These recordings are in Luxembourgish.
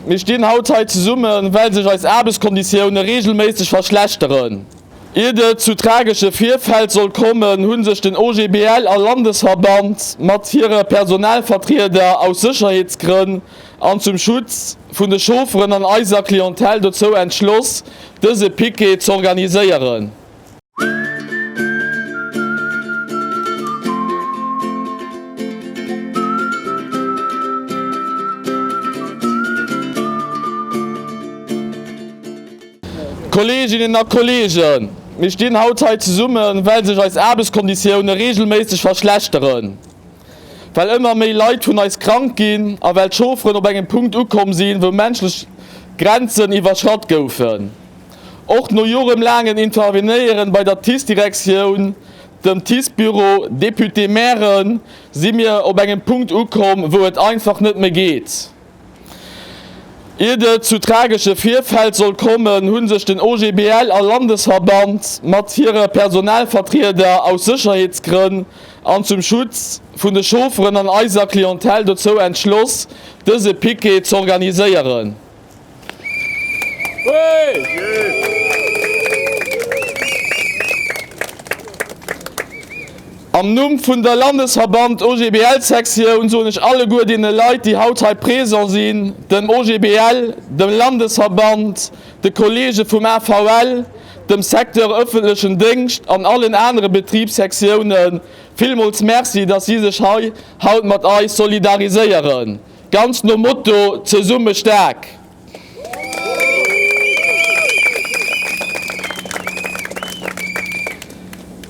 Mir stinn haut hei zesummen, well sech eis Aarbechtskonditioune reegelméisseg verschlechteren. Iert et zu tragesche Virfäll soll kommen, hu sech den OGBL a Landesverband mat hire Personalvertrieder aus Sécherheetsgrënn an zum Schutz vun de Chaufferen an eiser Clientèle dozou entschloss, dëse Piquet z'organiséieren. Kolleeginnen a Kolleegen, mir stinn haut hei zesummen, well sech eis Aarbechtskonditioune reegelméisseg verschlechteren, well ëmmer méi Leit vun eis krank ginn a well d'Chaufferen op engem Punkt ukomm sinn, wou menschlech Grenzen iwwerschratt goufen. Och no joremlaangen Intervenéieren bei der TICE-Direktioun, dem TICE-Büro, Député, Mairen, si mir op engem Punkt ukomm, wou et einfach net méi geet. Iert et zu tragesche Virfäll soll kommen, hu sech den OGBL a Landesverband mat hire Personalvertrieder aus Sécherheetsgrënn an zum Schutz vun de Chaufferen an eiser Clientèle dozou entschloss, dëse Piquet z'organiséieren. Am Numm vun der Landesverband OGBL Sektioun soen ech alleguer deene Leit, déi haut hei présent sinn, dem OGBL, dem Landesverband, de Kollege vum AVL, dem Secteur öffentlechen Déngscht an allen anere Betribssektiounen villmools Merci, dass si sech hei haut mat eis solidariséieren. Ganz nom Motto Zesumme staark!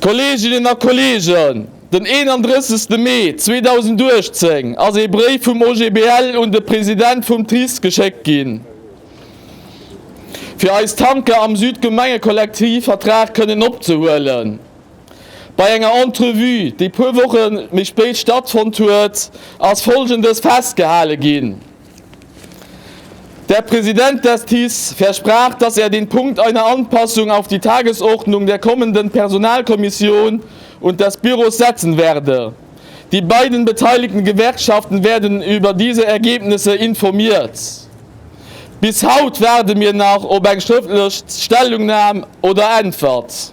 Kolleeginnen a Kolleegen, den 31 Mee 2018 ass ee Bréif vum OGBL un de President vum TRIS geschéckt ginn, fir eis Tanker am Südgemengekollektivvertrag kënnen opzehuelen. Bei enger Entrevue, déi puer Woche méi spéit stattfonnt huet, ass Folgendes festgehale ginn, Der Präsident des TICE versprach, dass er den Punkt einer Anpassung auf die Tagesordnung der kommenden Personalkommission und des Büros setzen werde. Die beiden beteiligten Gewerkschaften werden über diese Ergebnisse informiert. Bis haut waarde mir nach op eng schrëftlech Stellungnam oder Äntwert.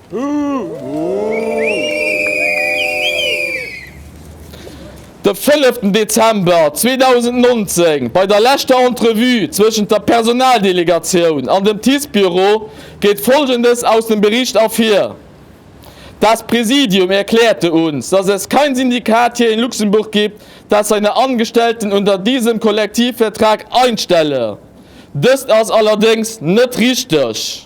De fënneften Dezember 2019, bei der leschter Entrevue zwëschent der Personaldelegatioun an dem TICE-Büro, geet Folgendes aus dem Bericht ervir, Das Präsidium erklärte uns, dass es kein Syndikat hier in Luxemburg gibt, das seine Angestellten unter diesem Kollektivvertrag einstelle. Dëst ass allerdéngs net richteg.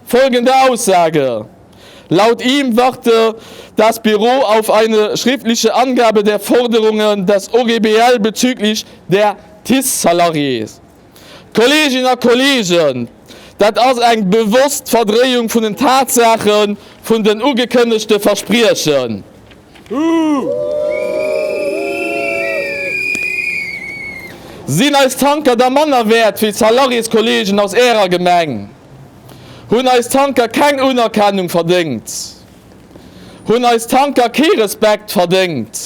Folgende Aussage, Laut ihm warte das Büro auf eine schriftliche Angabe der Forderungen des OGBL bezüglich der TICE-Salariés. Kolleeginnen a Kolleegen, dat ass eng bewosst Verdréiung vun den Tatsaache vun den ugekënnegte Verspriechen. Sinn eis Tanker da manner wäert wéi d'Salariéskolleegen aus Ärer Gemeng? Hunn eis Tanker keng Unerkennung verdéngt? Hunn eis Tanker kee Respekt verdéngt?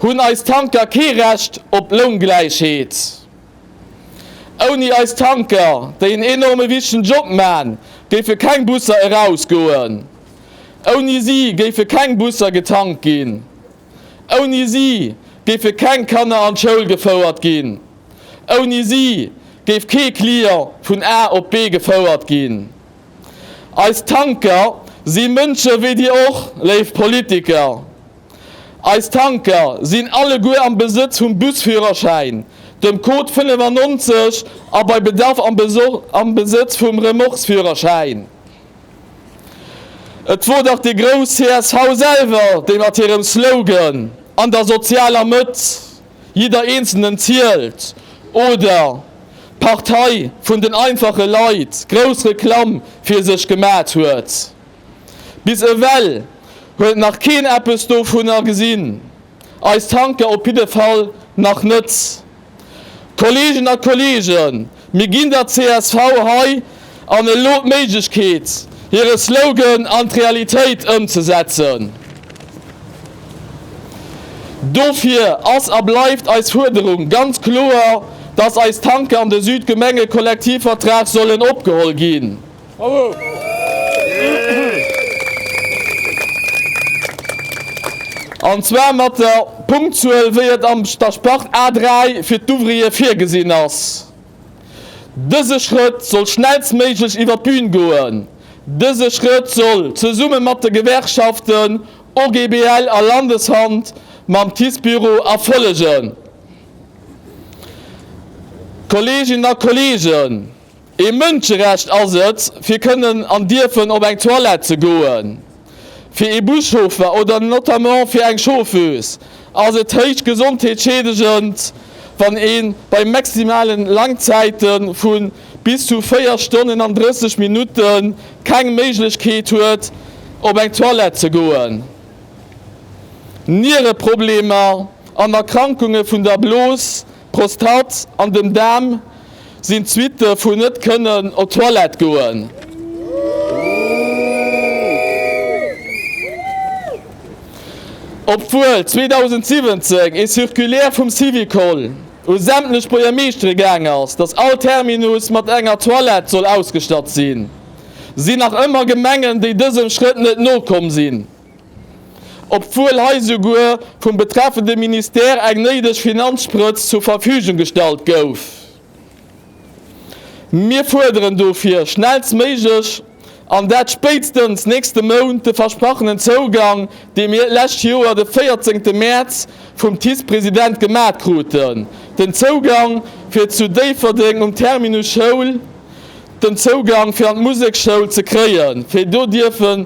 Hunn eis Tanker kee Recht op Loungläichheet? Ouni eis Tanker, déi en enorme wichtegen Job man, géife keng Busser erausgoen. Ouni si géife keng Busser getankt ginn. Ouni si géife keng Kanner an d'Schoul gefouert ginn. Ouni si géif kee Client vun A op B gefouert ginn. Eis Tanker si Mënsche wéi Dir och, léif Politiker. Eis Tanker sinn alleguer am Besëtz vum Busführerschäin, dem Code 95 a bei Bedarf am Besëtz vum Remorquesführerschäin. Et wor dach déi grouss csv selwer, déi mat hirem Slogan An der sozialer Mëtt, jidder Eenzelnen zielt oder D'Partei vun den einfache Leit grouss Reklamm fir sech gemat huet. Bis ewell huet nach keen eppes dovunner gesinn. Eis Tanker op jidde Fall nach net. Kolleegen a Kolleegen, mir ginn der csv hei an elo d'Méiglechkeet, hire Slogan an d'Realitéit ëmzesetzen. Dofir ass a bleift eis Fuerderung ganz kloer, dass eis Tanker an de Südgemengekollektivvertrag sollen opgeholl ginn. An zwar mat der Punktzuel, wéi et am Staspart A 3 fir d'Ouvriere virgesinn ass. Dëse Schrëtt soll schnellstméiglech iwwer d'Bühn goen. Dëse Schrëtt soll, zesumme mat de Gewerkschaften OGBL a Landeshand mam TICE-Büro, erfollegen. Kolleeginnen a Kolleegen. Ee Mënscherecht ass et, fir kënnen an dierfen op eng Toilette ze goen. Fir ee Buschauffer oder notamment fir eng Chauffeuse ass et héich gesondheetsschiedegend, wann ee bei maximale Langzäite vu bis zu 4 Stonnen an 30 Minutte keng Méiglechkeet huet, op eng Toilette ze goen. Niereproblemer an Erkrankunge vun der Blos D'Prostate an den Daarm sinn d'Suitte vun net kënnen op d'Toilette goen. Obwuel 2017 ee Circulaire vum Syvicol u sämtlech Buergermeeschtere gaang ass, datt all Terminus mat enger Toilette soll ausgestatt sinn, sinn nach ëmmer Gemengen, déi dësem Schrëtt net nokomm sinn. obwuel hei souguer vum betreffende Ministère eng néideg Finanzsprëtz zur Verfügung gestallt gouf. Mir fuerderen dofir schnellstméiglech, an dat spéitstens nächste Mount, de versprachenen Zougang, dee mir d'lescht Joer de 14 Mäerz vum TICE-President gemat kruten, den Zougang fir zu Déifferdeng um Terminus Schoul den Zougang fir an d'Musekschoul ze kréien, fir do dierfen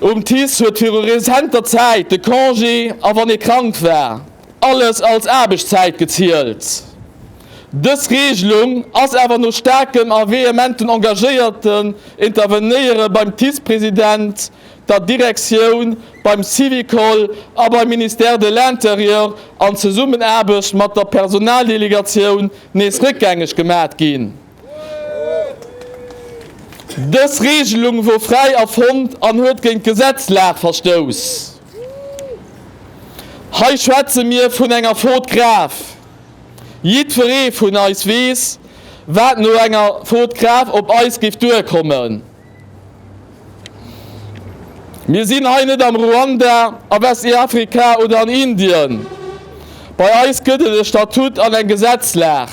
Um TICE huet viru rezenter Zäit de Congé a wann ee krank war, alles als Aarbechtszäit gezielt. Dës Reegelung ass awer no staarkem a vehementen engagéierten Intervenéiere beim TICE-President, der Direktioun, beim Syvicol a beim Ministère de l'Intérieur an Zesummenaarbecht mat der Personaldelegatioun nees réckgängeg gemat ginn. Dës Reegelung wor fräi erfonnt an huet géint d'Gesetzlag verstouss. Hei schwätze mir vun enger Faute grave. Jiddweree vun eis weess, wat no enger Faute grave op eis géif duerkommen. Mir sinn hei net am Ruanda, a Westiafrika oder an Indien. Bei eis gëtt et e Statut an eng Gesetzlag,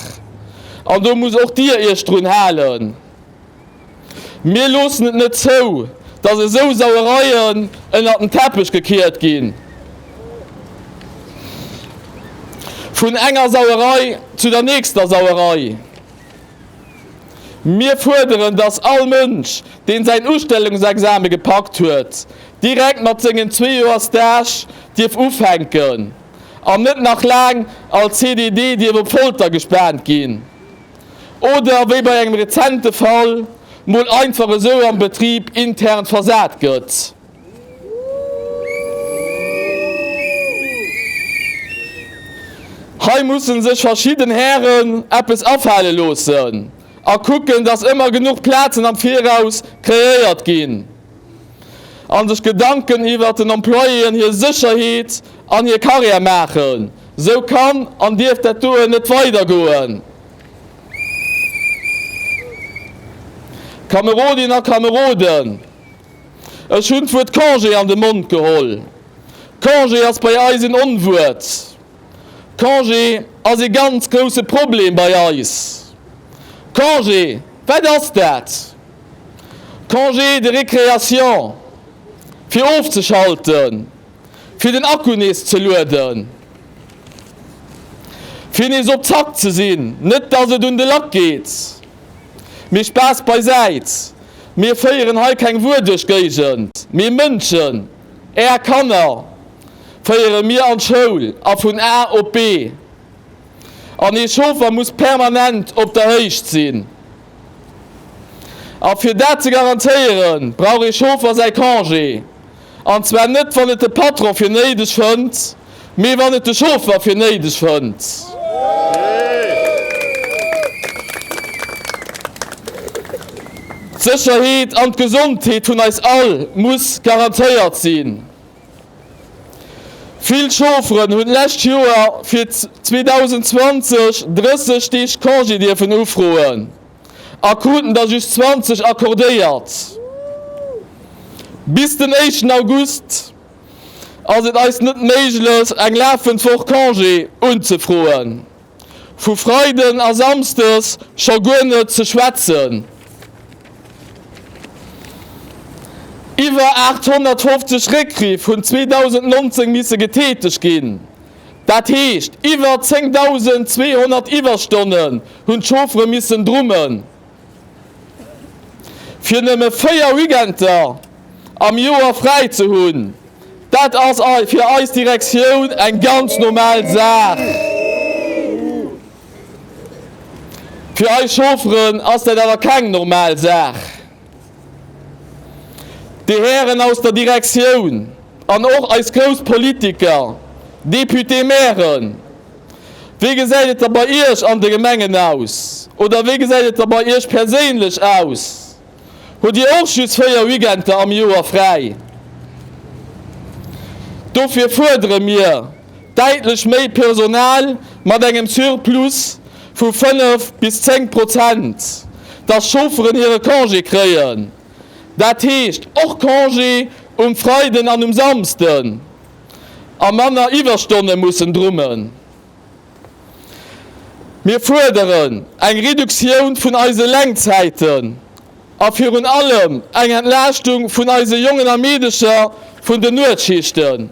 an do musst och Dir Iech drun halen. Mir loossen et net zou, dass esou Sauereien ënnert den Teppech gekiert ginn. Vun enger Sauerei zu der nächster Sauerei. Mir fuerderen, dass all Mënsch, deen säin Ustellungsexame gepackt huet, direkt mat sengen zwee Joer Stage dierf ufänken an net nach laang als CDD dierf op Folter gespaant ginn oder, wéi bei engem rezente Fall, mol einfach esou am Betrib intern versat gëtt. Hei mussen sech verschidden Hären eppes afale loossen a kucken, dass ëmmer genuch Plazen am Viraus kreéiert ginn a sech Gedanken iwwert den Employéen hir Sécherheet an hir Karriär maachen. Sou kann an dierf dat doe net weidergoen. Kamerodinnen a Kameroden, Ech hunn d'Wuert Congé an de Mond geholl. Congé ass bei eis en Onwuert. Congé ass e ganz grousse Problem bei eis. Congé, wat ass dat? Congé de récréation, fir ofzeschalten. fir den Akku nees ze lueden, fir nees op Zack ze sinn. Net dass et un de Lack geet, mee Spaass beisäit, mir féieren hei keng wuerdeg Géigend, mee Mënschen, Är Kanner féiere mir an d'Schoul a vun A op B. An ee Chauffer muss permanent op der Héicht sinn. A fir dat ze garantéieren, brauch ee Chauffer säi Congé. An zwar net wann et de Patron fir néideg fënnt, mee wann et de Chauffer fir néideg fënnt. D'Sécherheet an d'Gesondheet vun eis all muss garantéiert sinn. Vill Chaufferen hunn d'lescht Joer fir 2020 30 Deeg Congé dierfen ufroen. a kruten der just 20 accordéiert. Bis den éischten August ass et eis net méiglech eng lafend Woch Congé unzefroen, vu Freiden a Samsdes scho guer net ze schwätzen. Iwwer 850 Réckriff hunn 2019 misse getäteg ginn. Dat heescht, iwwer 10.200 Iwwerstonnen hunn d'Chauffere missen drummen, fir nëmme véier Weekender am Joer fräi ze hunn. Dat ass fir eis Direktioun eng ganz normal Saach. Fir eis Chaufferen ass dat awer keng normal Saach. Dir Hären aus der Direktioun an och eis grouss Politiker, Députés, Mairen, wéi gesäit et da bei Iech an de Gemengen aus? Oder wéi gesäit et da bei Iech perséinlech aus? Hutt Dir och just véier Weekender am Joer fräi? Dofir fuerdere mir, däitlech méi Personal mat engem Surplus vu 5 bis 10 Prozent, dass Chaufferen hire Congé kréien, dat heescht och Congé um Freiden an um Samsden, a manner Iwwerstonne mussen drummen. Mir fuerderen eng Reduktioun vun eise Lenkzäiten a virun allem eng Entlaaschtung vun eise Jongen a Meedecher vun den Nuetschichten.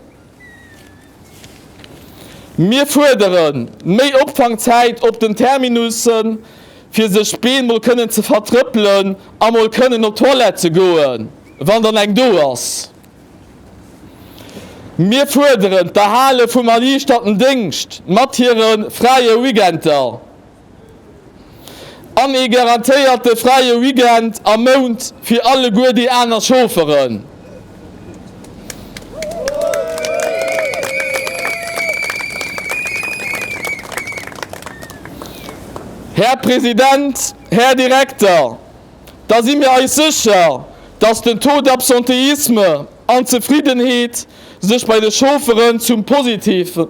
Mir fuerderen méi Opfangzäit op den Terminussen, fir sech d'Been mol kënnen ze vertrëppelen a mol kënnen op d'Toilette ze goen, wann dann eng do ass. Mir fuerderen d'Erhale vum erliichterten Déngscht mat hire fräie Weekender. an ee garantéierte fräie Weekend am Mount fir alleguer déi aner Chaufferen. Här President, Här Direkter, da si mir eis sécher, dass den Taux d'absentéisme an d'Zefriddenheet sech bei de Chaufferen zum Positive.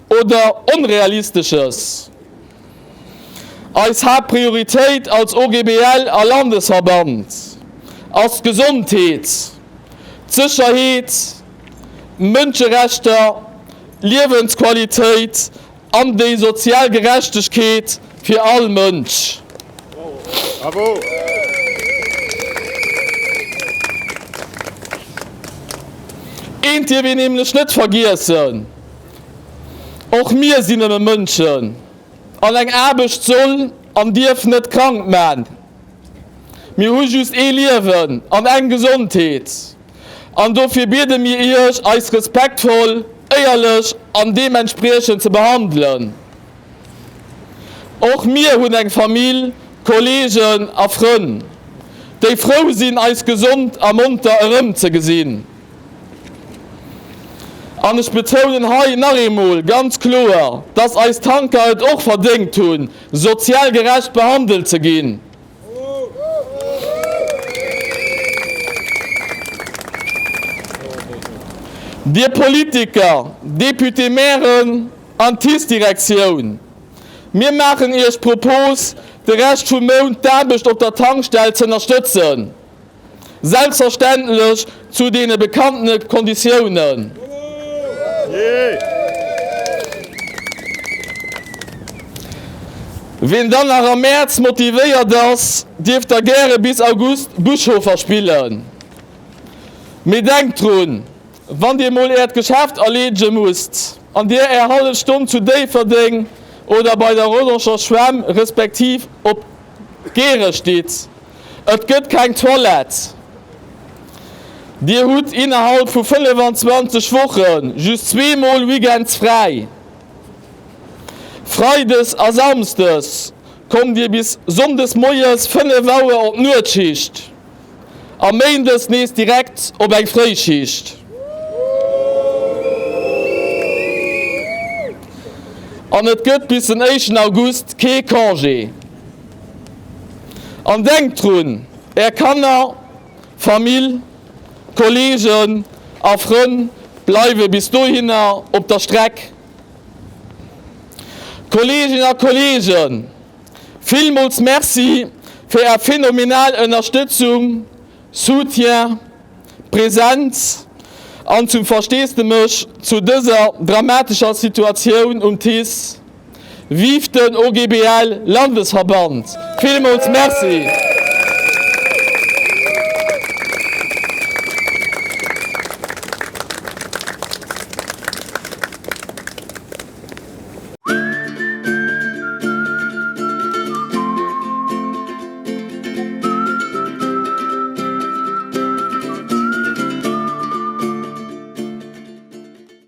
oder Onrealistesches. Eis Haaptprioritéit als OGBL a Landesverband ass d'Gesondheet, d'Sécherheet, d'Mënscherechter, d'Liewensqualitéit an déi sozial Gerechtegkeet fir all Mënsch. Eent dierf een nämlech net vergiessen. Och mir sinn nëmme Mënschen an eng Aarbecht soll an dierf net krank man. Mir hu just ee Liewen an eng Gesondheet an dofir biede mir Iech eis respektvoll, éierlech an deementspriechend ze behandelen. Och mir hunn eng Famill, Kollegen a Frënn, déi frou sinn eis gesond a monter erëmzegesinn. An ech betounen hei nach eemol ganz kloer, dass eis Tanker et och verdéngt hunn, sozial gerecht behandelt ze ginn. Dir Politiker, Député, Mairen an TICE-Direktioun, mir maachen Iech d'Propos, de Rescht vum Mount d'Aarbecht op der Tankstell z'ënnerstëtzen. Selbstverständlech zu deene bekannte Konditiounen. Wien dann nach am Mäerz motivéiert ass, dierf da gäre bis August Buschhofer spillen. Mee denkt drun, wann Dir mol Äert Geschäft erleedege musst an Dir Är hallef Stonn zu Déifferdeng oder bei der Rodancher Schwämm respektiv op Gehrech ditt, Et gëtt keng Toilette. Dir hutt innerhalb vu 25 Woche just zwee Mol weekends fräi. Freides a samsdes kommt Dir bis sonndes moies 5 Auer op d'Nuetschicht a méindes nees direkt op eng Fréischicht. An et gëtt bis den éischten August kee Congé. An denkt drun, Är Kanner, Famill, Kolleegen a Frënn bleiwe bis dohinner op der Streck. Kolleeginnen a Kolleegen, villmools Merci fir Är phänomenal Ënnerstëtzung, Soutien, Präsenz an zum Versteesdemech zu dëser dramatescher Situatioun um TICE. Vive den OGBL Landesverband! Villmools Merci!